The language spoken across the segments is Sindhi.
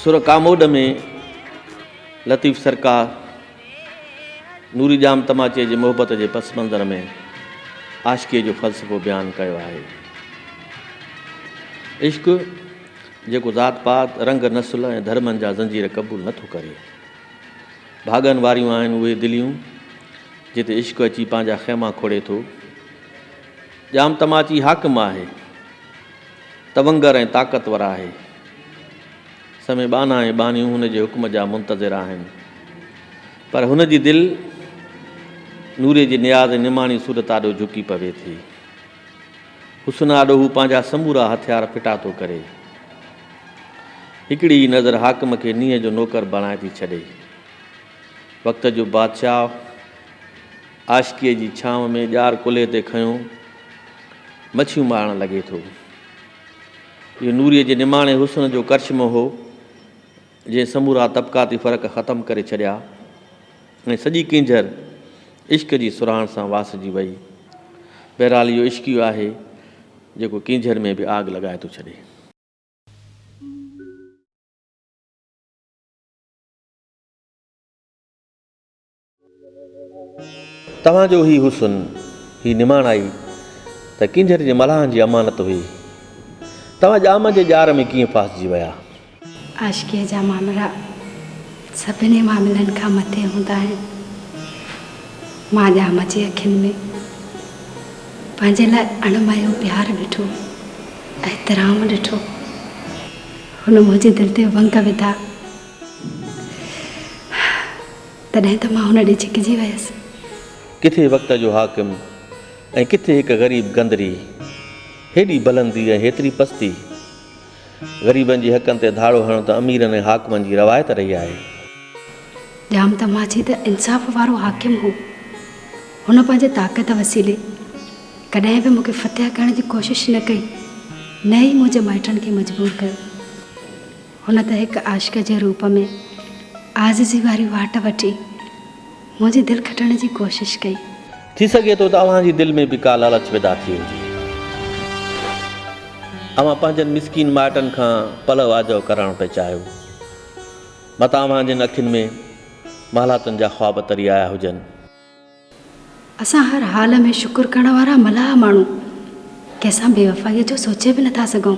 سر ڪاموڏ ۾ لطيف سرڪار نوري ڄام تماچي جي محبت جي پس منظر ۾ عاشقيء جو فلسفو بيان ڪيو آهي عشق جيڪو ذات پات، رنگ، نسل ۽ ڌرمن جا زنجير قبول نه ٿو ڪري. ڀاڳن واريون آهن اهي دليون، جتي عشق اچي پنهنجا خيما کوڙي ٿو. ڄام تماچي حاڪم آهي، تونگر ۽ طاقتور آهي. سوين ٻانها ۽ ٻانهيون هن جي حڪم جا منتظر آهن. پر هن جي دل نوري جي نياز ۽ نماڻي صورت آڏو جهڪي پوي ٿي. حسن آڏو هو پنهنجا سمورا هٿيار ڦٽا ٿو ڪري. هڪڙي ئي نظر حاڪم کي نينهن جو نوڪر بڻائي ٿي ڇڏي. وقت جو بادشاهه عاشقيء جي ڇانو ۾ ڄار ڪلهي تي کنيو مڇيون مارڻ لڳي ٿو. اهو نوريء جي نماڻي حسن جو ڪرشمو هو. جنهن سمورا طبقاتي فرق ختم ڪري ڇڏيا ۽ سڄي ڪينجهر عشق جي سرهاڻ سان واسجي وئي. بهرحال اهو عشق ئي آهي جيڪو ڪينجهر ۾ به آگ لڳائي ٿو ڇڏي. توهان جو هي حسن، هي نماڻائي ته ڪينجهر جي ملاحن جي امانت هئي. توهان ڄام جي ڄار ۾ ڪيئن ڦاسجي ويا؟ عاشقيء جا معاملا سڀني معاملن کان مٿي هوندا آهن. مان ڄام جي اکين ۾ پنهنجي لاء اڻمايو پيار ڏٺو، احترام ڏٺو. هن منهنجي دل تي ونگ وڌا. تڏهن ته مان هن ڏي ڇڪجي ويس. ڪٿي وقت جو حاڪم ۽ ڪٿي هڪ غريب گندري. هيڏي بلندي ۽ هيتري پستي. غريبن جي حقن تي ڌاڙو هڻڻ ته اميرن ۽ حاڪمن جي روايت رهي آهي. ڄام تماچي ته انصاف وارو حاڪم هو. هن پنهنجي طاقت وسيلي ڪڏهن به مون کي فتح ڪرڻ جي ڪوشش نه ڪئي نه ئي منهنجي مائٽن کي مجبور ڪيو. هن ته هڪ عاشق جي روپ ۾ عاجزي واري واٽ وٺي منهنجي دل کٽڻ جي ڪوشش ڪئي. ٿي سگهي ٿو ته اوهان جي دل ۾ به ڪا لالچ پيدا ٿي هجي. اوهان پنهنجن مسڪين مائٽن کان پلؤ آجو ڪرائڻ پئي چاهيو. متان اوهان جن اکين ۾ محلاتن جا خواب تري آيا هجن. اسان هر حال ۾ شڪر ڪرڻ وارا ملاح ماڻهو ڪنهن سان بي وفائيء جو سوچي به نٿا سگهون.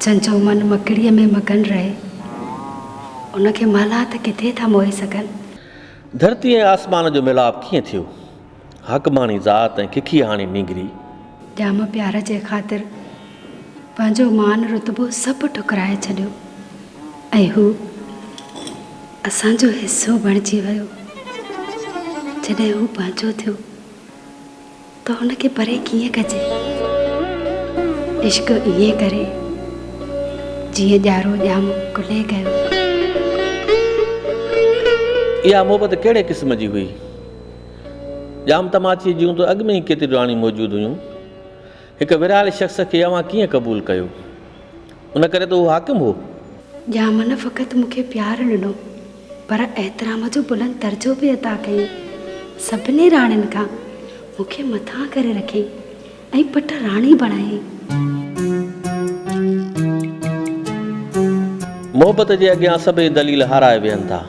جنهن جو من مڪڙيء ۾ مگن رهي، ان کي ملاح ته ڪٿي ٿا موهي سگهن. ڌرتي ۽ آسمان جو ميلاپ ڪيئن ٿيو؟ حقماڻي ذات ۽ ککيهاڻي نينگري. ڄام پيار جي خاطر پنهنجو مان رتبو سڀ ٺڪرائي ڇڏيو ۽ هو اسان جو حصو بڻجي ويو. جڏهن هو پنهنجو ٿيو ته هن کي پري ڪيئن ڪجي. عشق ائين ڪري جيئن ڄارو ڄام ڪلهي ڪيو. اها محبت ڪهڙي قسم جي هئي؟ ڄام تماچيء جون ته اڳ ۾ ئي ڪيتريون آڻي موجود هيون. هڪ ورهايل شخص کي اوهان ڪيئن قبول ڪيو؟ ان ڪري ته اهو حاڪم هو. ڄام نه فقط مون کي پيار ڏنو، پر احترام جو بلند درجو به عطا ڪيائين. سڀني راڻين کان مون کي مٿان ڪري رکيائين. ۽ پٽ راڻي بڻايائين. محبت جي اڳيان سڀئي دليل هارائي ويهن ٿا.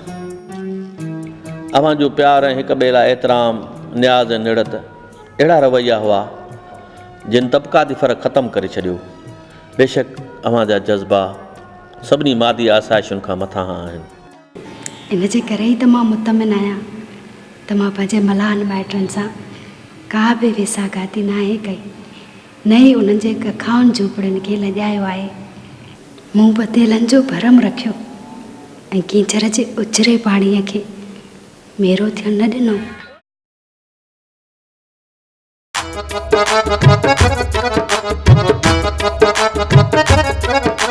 اوهان جو پيار ۽ هڪ ٻئي لاء احترام، نياز ۽ نڙت اهڙا رويا هئا، جن طبقاتي فرق ختم ڪري ڇڏيو. بيشڪ اوهان جا جذبا سڀني مادي آسائشن کان مٿانهان آهن. ان جي ڪري ئي ته مان مطمئن آهيان ته مان پنهنجي ملاحن مائٽن سان ڪا به ويساهه گهاتي ناهي ڪئي، نه ئي انهن جي ڪکائن جهوپڙين کي لڄايو آهي. مون بديلن جو ڀرم رکيو ۽ ڪينجهر جي اجري پاڻيء کي ميرو ٿيڻ نه ڏنو.